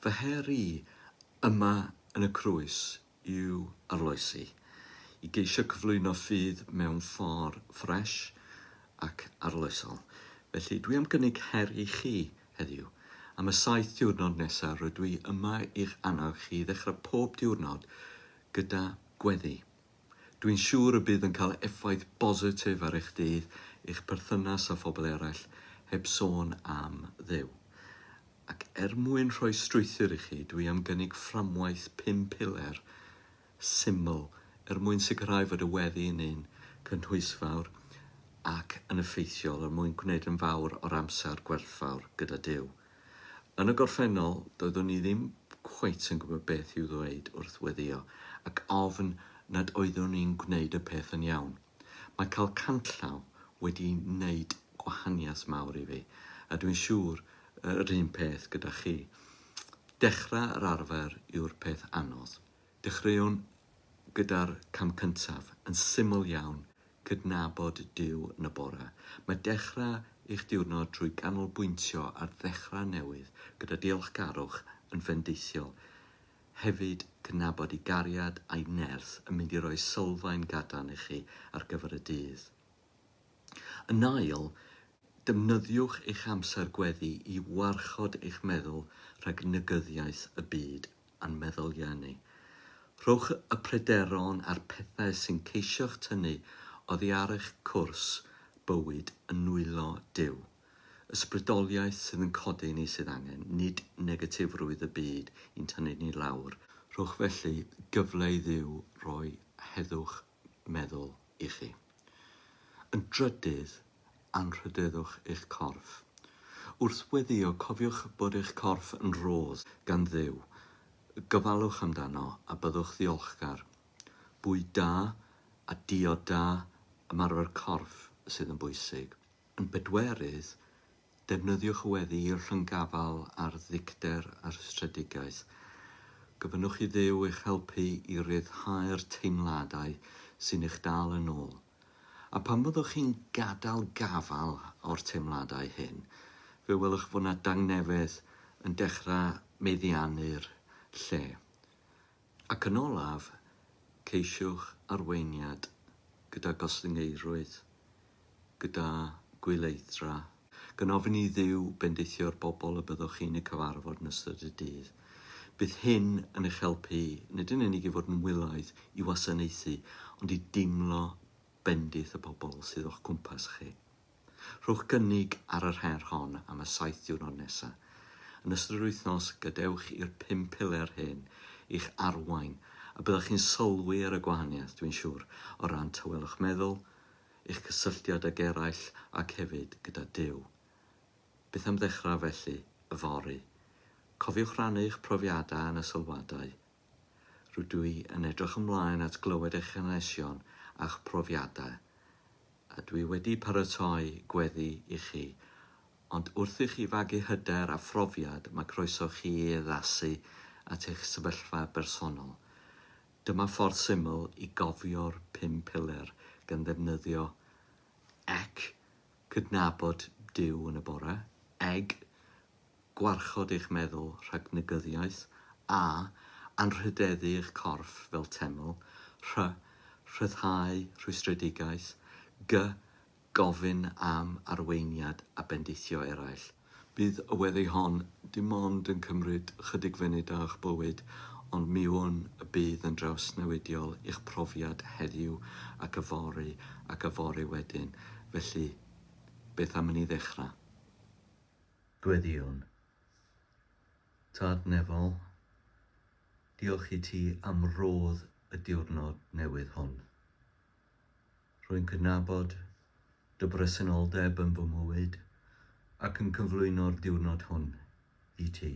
Fy her i yma yn y Crwys yw arloesi, i geisio cyflwyno ffydd mewn ffor' ffresh ac arloesol. Felly, dwi am gynnig her i chi heddiw. Am y saith diwrnod nesa, rydw i yma i'ch annog chi i ddechra pob diwrnod gyda gweddi. Dwi'n siŵr y bydd yn cael effaith bositif ar eich dydd, eich perthynas â phobl eraill, heb sôn am Dduw. Ac er mwyn rhoi strwythur i chi, dwi am gynnig fframwaith pum piler syml er mwyn sicrhau fod y weddi yn un cynhwysfawr ac yn effeithiol er mwyn gwneud yn fawr o'r amser gwerthfawr gyda Duw. Yn y gorffennol, doeddwn i ddim cweit yn gwybod beth i'w ddweud wrth weddïo ac ofn nad oeddwn i'n gwneud y peth yn iawn. Mae cael canllaw wedi wneud gwahaniaeth mawr i fi, a dwi'n siŵr yr un peth gyda chi. Dechrau yr arfer yw'r peth anodd. Dechreuwn gyda'r cam cyntaf, yn syml iawn, cydnabod Duw yn y bore. Mae dechrau eich diwrnod trwy ganolbwyntio ar ddechrau newydd gyda diolchgarwch yn fendithiol. Hefyd, cydnabod i gariad a'i nerth yn mynd i roi sylfaen gadarn i chi ar gyfer y dydd. Yn ail, defnyddiwch eich amser gweddi i warchod eich meddwl rhag negyddiaeth y byd a'n meddyliau ni. Rhowch y pryderon a'r pethau sy'n ceisio'ch tynnu oddi ar eich cwrs bywyd yn nwylo Duw. Ysbrydoliaeth sydd yn codi ni sydd angen, nid negatifrwydd y byd i'n tynnu ni lawr. Rhowch felly gyfle i Dduw roi heddwch meddwl i chi. Yn drydydd, anrhydeddwch eich corff. Wrth weddïo, cofiwch bod eich corff yn rhodd gan Dduw. Gofalwch amdano a byddwch ddiolchgar. Bwyd da a diod da, ymarfer corff sydd yn bwysig. Yn bedwerydd, Defnyddiwch y weddi i rhynggafael ar ddicter a rhestredigaeth. Gofynnwch i Dduw eich helpu i ryddhau'r teimladau sy'n eich dal yn ôl. A phan fyddwch chi'n gadael gafael o'r teimladau hyn, fe welwch fod 'na dangnefedd yn dechrau meddiannu'r lle. Ac yn olaf, ceisiwch arweiniad gyda gostyngeirrwydd, gyda gwyleithdra, gan ofyn i Dduw bendithio'r bobl y byddwch chi'n eu cyfarfod yn ystod y dydd. Bydd hyn yn eich helpu nid yn unig i fod yn wylaidd i wasanaethu, ond i deimlo bendith y pobl sydd o'ch cwmpas chi. Rhowch gynnig ar yr her hon am y saith diwrnod nesaf. Yn ystod yr wythnos, gadewch i'r pum piler hyn eich arwain a byddwch chi'n sylwi ar y gwahaniaeth, dwi'n siŵr, o ran tawelwch meddwl, eich cysylltiad ag eraill ac hefyd gyda Duw. Beth am ddechrau felly, yfory? Cofiwch rannu eich profiadau yn y sylwadau. Rydw i yn edrych ymlaen at glywed eich hanesion a'ch profiadau. A dwi wedi paratoi gweddi i chi. Ond wrth i chi fagu hyder a phrofiad mae croeso chi i addasu at eich sefyllfa bersonol. Dyma ffordd syml i gofio'r pum piler gan ddefnyddio ec, cydnabod Duw yn y bore, eg, gwarchod eich meddwl rhag negyddiaeth, a, anrhydeddu eich corff fel teml, rh, rhyddhau rhwystredigaeth, gy, gofyn am arweiniad a bendithio eraill. Bydd y weddi hon dim ond yn cymryd ychydig funud o'ch bywyd, ond mi wn y bydd yn drawsnewidiol i'ch profiad heddiw ac yfory ac yfory wedyn. Felly, beth am i ni ddechrau? Gweddïwn. Tad Nefol, diolch i ti am rodd y diwrnod newydd hwn. Rwy'n cydnabod dy bresenoldeb yn fy mywyd ac yn cyflwyno'r diwrnod hwn i ti.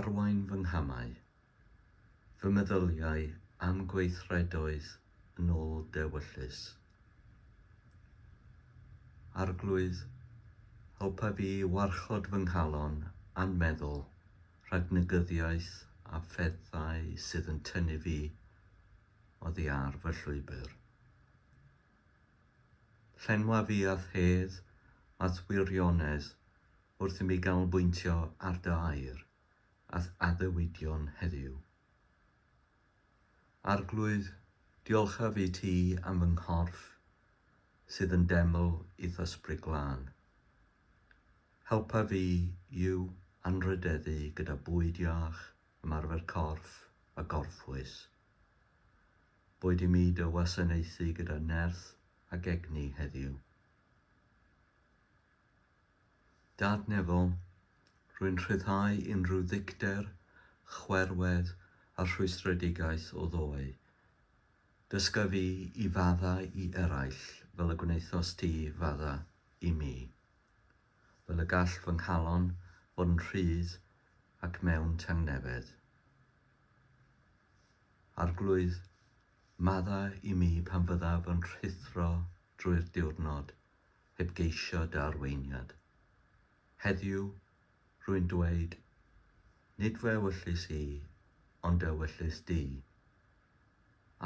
Arwain fy nghamau fy meddyliau am gweithredoedd yn ôl dewyllys. Arglwydd, helpa fi i warchod fy nghalon a'n meddwl rhag negyddiaeth a phethau sydd yn tynnu fi oddi ar fy llwybr. Llenwa fi â hedd at wirionedd wrth i mi ganolbwyntio ar dy air. a'th addewidion heddiw. Arglwydd, diolchaf i ti am fy nghorff sydd yn deml i'th Ysbryd Glân. Helpa fi i'w anrhydeddu gyda bwyd iach, ymarfer corff a gorffwys. Boed i mi dy wasanaethu gyda nerth ac egni heddiw. Dad Nebo, rwy'n rhyddhau unrhyw ddicter, chwerwedd a rhwystredigaeth o ddoe. Dysga fi i fadda i eraill fel y gwnaethos ti fadda i mi. Fel y gall fy nghalon fod yn rhydd ac mewn tangnefedd. Arglwydd, madda i mi pan fyddaf yn rhuthro drwy'r diwrnod, heb geisio darweiniad. Heddiw, rwy'n dweud, nid fy ewyllys i, ond dy ewyllys di.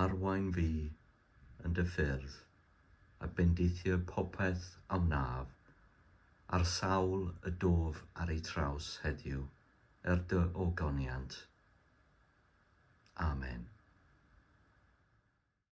Arwain fi yn dy ffyrdd, a bendithio popeth a wnaf, ar sawl y dof ar eu traws heddiw, er dy ogoniant. Amen.